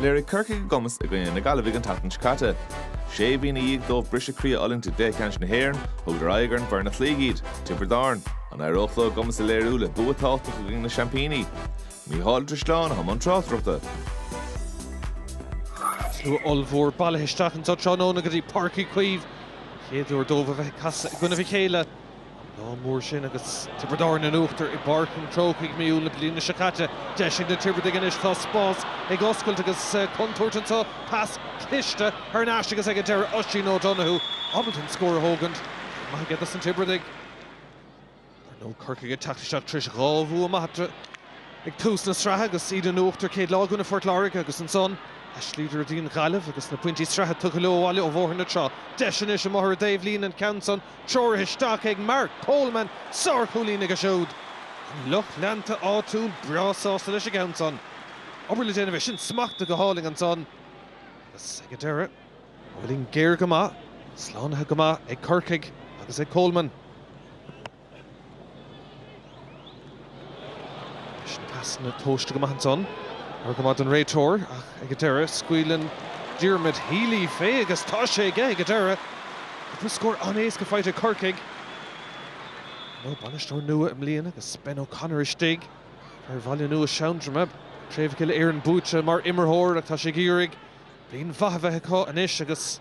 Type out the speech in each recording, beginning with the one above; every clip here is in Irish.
Léirigh Corcaigh a gcumas i gcoinne na Gaillimhe an tseachtain seo caite. Sé mhí ina dhiaidh dóibh briseadh croí a fhulaingt i gcluiche ceannais na hÉireann, thugadar aghaidh ar an bhfoireann a chloígh iad, Tiobraid Árann. An éireodh leo a gcumas a léiriú le bua tábhachtach i gcoinne na seaimpíní? Mícheál Ó Drisleáin i mbun tráchtaireachta. Slua ollmhór bailithe isteach anso tráthnóna go dtí Páirc Uí Chaoimh. Chéad uair dóibh a bheith ag casadh i gcoinnibh a chéile. Ón lá mór sin agus Tiobraid Árann in uachtar i bPáirc an Chrócaigh mí Iúil na bliana seo caite, deis ag na Tiobradaigh anois. Tá spás ag oscailt agus contúirt anso. Pas cliste thar n-ais agus ag an deireadh Oisín O'Donoghue ábalta an scór a thógaint. Maith go deas dos na Tiobradaigh. Ar ndóigh Corcaigh ag teacht isteach tréis dhá bhua maith eatarthu ag tús na sraithe agus iad in uachtar an chéad lá i gcoinne Phort Láirge agus ansan chloíodar an Ghaillimh agus na pointí sraithe tugtha leo abhaile ó Bhóthar na Trá. Deis anois amuigh ar an dtaobhlíne an ceann san Treoraithe isteach ag Mark Coleman, sárchúilín aige siúd. An lucht leanta áitiúil breá sásta leis an ceann san. Obair le déanamh é sin, smachta go hálainn ansan agus ag an deireadh, an uillinn géar go maith, slánaithe go maith ag Corcaigh agus ag Coleman. Bhí na pasanna tomhaiste go maith ansan, dar go maith don réiteoir, ach ag an deireadh, scaoileann Diarmuid Healy fé agus tá sé aige ag an deireadh! Cúpla scór an-éasca faighte ag Corcaigh. Ar ndóigh bainisteoir nua i mbliana agus Ben O'Connor istigh. Fear Bhaile Nua Seandroma, craobh Uile-Éireann buaite mar imirtheoir, ach tá sé ag iarraidh. Bliain mhaith a bheith acu anois agus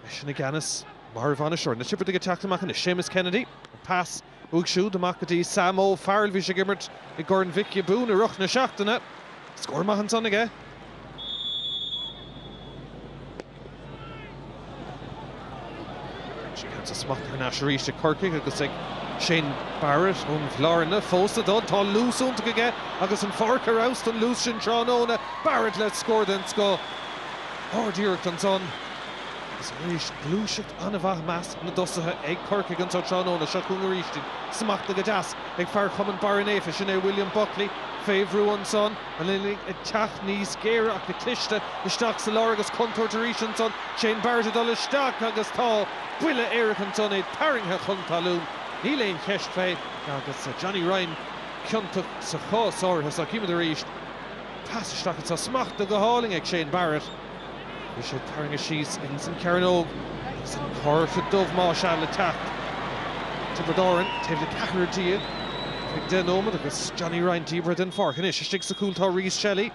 eisean i gceannas mar bhainisteoir. Na Tiobradaigh ag teacht amach anois, Séamus Kennedy, an pas uaidh siúd amach go dtí Sam O'Farrell. Bhí sé ag imirt i gCorn Mhic Giobúin i rith na seachtaine. Scór maith ansan aige. Beirt ag caint sa smacht thar n-ais arís ag Corcaigh agus ag Shane Barrett ón Bhlarna. Fós le dul, tá luas iontach aige agus an pháirc ar fheabhas don luas sin tráthnóna. Barrett le scór den scoth. Ard-iarracht ansan agus arís gluaiseacht an-mhaith i measc na dtosaithe ag Corcaigh anso tráthnóna. Seo chugainn arís iad. Smachta go deas ag fear Chumann Barra Naofa, sin é William Buckley, fé bhrú ansan. An uillinn ag teacht níos géire ach go cliste isteach sa lár agus contúirt arís ansan. Shane Barrett ag dul isteach agus tá buille éirice ansan, é tarraingthe chun talún, níl aon cheist fé, agus Johnny Ryan ciontach sa chás áirithe so. Chímid arís pas isteach anso, smachta go hálainn ag Shane Barrett. Bhí sé tarraingthe síos ins an chearnóg agus an cárta dubh más ea le teacht. Tiobraid Árann taobh le ceathrar déag ar feadh deich nóimead agus Johnny Ryan díbeartha den pháirc. Anois istigh sa chúl tá Rhys Shelley.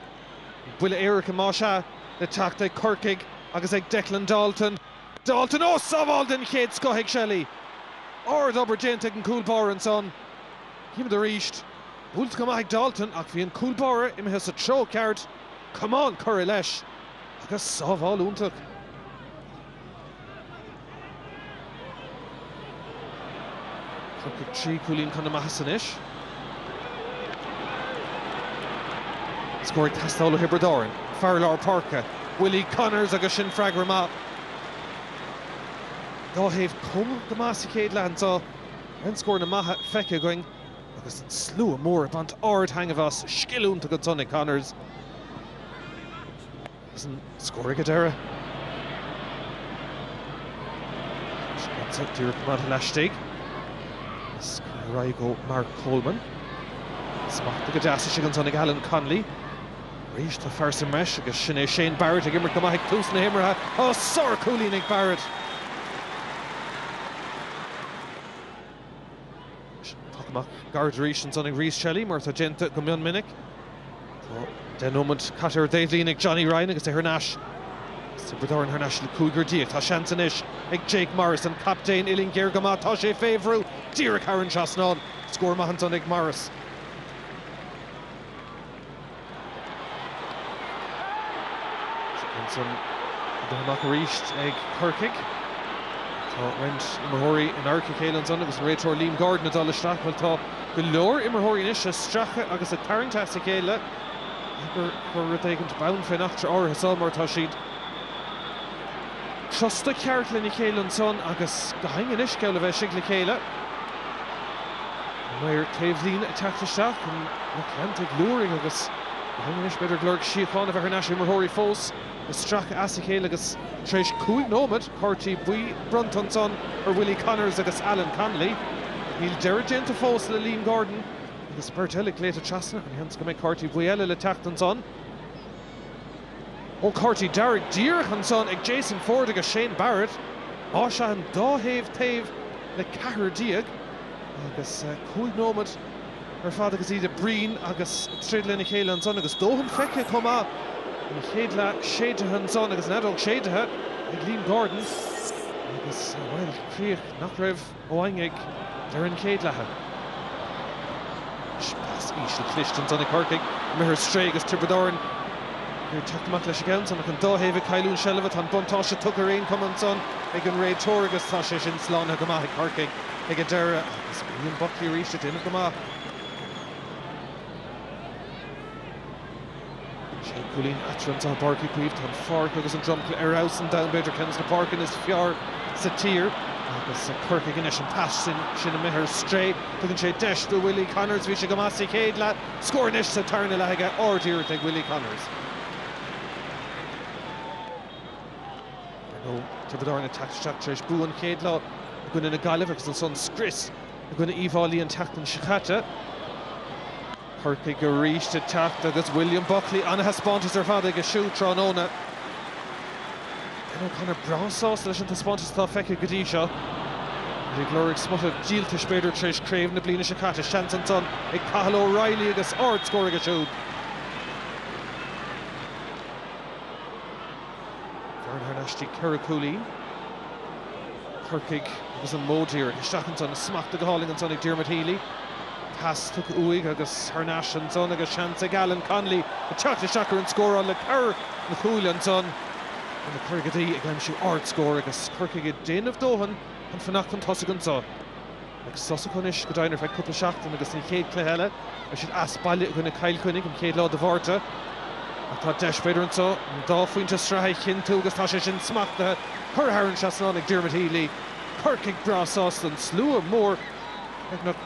An buille éirice más ea le teacht ag Corcaigh agus ag Declan Dalton. Dalton, Ó! Sábháil den chéad scoth ag Shelley. Ard obair déanta ag an cúl báire ansan. Chímid arís. Buailte go maith ag Dalton ach bhí an cúl báire imithe sa treo ceart. Camán curtha leis agus sábháil iontach. Corcaigh trí chúilín chun na maitheasa anois. Scór ag teastáil ó Thiobraid Árann. Fear lár páirce, Willie Connors agus sin freagra maith. Dhá thaobh cúng go maith sa chéad leath anseo. An-scóranna maithe feicthe againn. Agus an slua mór ag baint ard-taitneamh as. Scil iontach ansan ag Connors agus an scór ag an deireadh, díreach go maith laistigh agus curtha ar aghaidh go Mark Coleman. Smachtaithe go deas istigh ansan ag Alan Connolly. Arís tá fear sa mbreis agus sin é Shane Barrett ag imirt go maith ag tús na himeartha. Ó sárchúilín ag Barrett. Poc amach gairid arís ansan ag Rhys Shelly, mar atá déanta go mion minic. Tá deich nóimead caite ar an dtaobhlíne ag Johnny Ryan agus é thar n-ais is Tiobraid Árann thar n-ais le cúigear déag. Tá seans anois ag Jake Morris, an captaen uillinn géar go maith. Tá sé fé bhrú díreach thar an trasnán. Scór maith ansan ag Morris. Ansan ag dul amach arís ag Corcaigh. Tá roinnt imreoirí in adharca a chéile ansan agus an réiteoir Liam Gordon ag dul isteach. Bhuel, tá go leor imreoirí anois ag stracadh agus ag tarraingt as a chéile. B'fhéidir gur rud éigint bonn fén eachtra áirithe seo mar tá siad. crosta ceart lena chéile ansan agus go deimhin anois le bheith istigh le chéile. An maor taobhlíne ag teacht isteach chun cainte ag liúirigh agus go deimhin anois b'fhéidir ag lorg síochána a bheith thar n-ais. Imreoirí fós ag stracadh as a chéile agus tar éis cúig nóimead cártaí buí bronnta ansan ar Willie Connors agus Alan Connolly. Níl deireadh déanta fós le Liam Gordon agus beirt eile glaoite trasna, ana-sheans go mbeidh cártaí buí eile le teacht ansan? Ó cártaí dearg díreach ansan ag Jason Forde agus Shane Barrett, tá siad an dá thaobh taobh le ceathrar déag agus cúig nóimead ar fad agus iad ag bruíon agus ag troid lena chéile ansan agus dóthain feicthe chomh maith an chéad leath séidthe ansan agus an fheadóg séidthe ag Liam Gordon agus, bhuel, críoch nach raibh. Ró-thaitneamhach ar an gcéad leath. Pas íseal cliste ansan ag Corcaigh. Imithe ar strae agus Tiobraid Árann ag teacht amach leis an gceann san. Ach an dá thaobh ag cailliúint seilbhe, tá an buntáiste tugtha ar aon chuma ansan ag an réiteoir agus tá sé sin slánaithe go maith ag Corcaigh ag an deireadh. William Buckley arís ag déanamh go maith. Sé chúilín eatarthu i bPáirc Uí Chaoimh. Tá an pháirc agus an dromchla ar fheabhas an domhain, b'fhéidir ceann de na páirceanna is fearr sa tír. Agus Corcaigh ach an pas sin amuigh ar strae. Tugann sé deis do Willie Connors. Bhí sé go maith sa chéad leath. Scór anois sa tarna leath aige. Ard-iarracht ag Willie Connors. Tiobraid Árann ag teacht isteach anseo tar éis bua an chéad lá i gcoinne na Gaillimhe agus ansan scrios i gcoinne Uíbh Fháilí an tseachtain seo caite. Corcaigh arís ag teacht agus William Buckley, an-thaispeántas ar fad aige siúd tráthnóna. Ben O'Connor breá sásta leis an taispeántas atá feicthe go dtí seo. Iad ag lorg smuta díoltais b'fhéidir tar éis craobh na bliana seo caite, seans ansan ag Cathal O'Reilly agus ard-scór aige siúd. Bearna thar n-ais go dtí ceithre cúilín Corcaigh agus an modh díreach isteach ansan. Smachtaithe go hálainn ansan ag Diarmuid Healy. Pas tugtha uaidh agus thar n-ais ansan agus seans ag Alan Connolly ag teacht isteach ar an scóráil le cabhair na cúile ansan. Tá na Corcaígh ag aimsiú ard-scór agus Corcaigh ag déanamh dóthain chun fanacht chun tosaigh ansan. Sos acu anois go deimhin ar feadh cúpla seachtain agus an chéad cluiche eile acu siúd as baile i gcoinne Chill Chainnigh an chéad lá de Mhárta. Ach tá deis b'fhéidir anseo an dá phointe sraithe a chinntiú agus tá sé sin smachtaithe curtha thar an trasnán ag Dermot Healy. Corcaigh breá sásta an slua mór, beagnach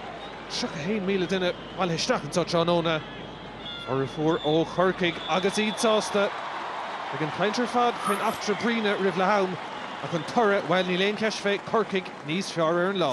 31,000 duine, bailithe isteach anseo tráthnóna. Formhór ó Chorcaigh agus iad sásta. An chaint ar fad faoin eachtra bruíne roimh leath am, ach an toradh, bhuel níl aon cheist fé Corcaigh níos fearr ar an lá.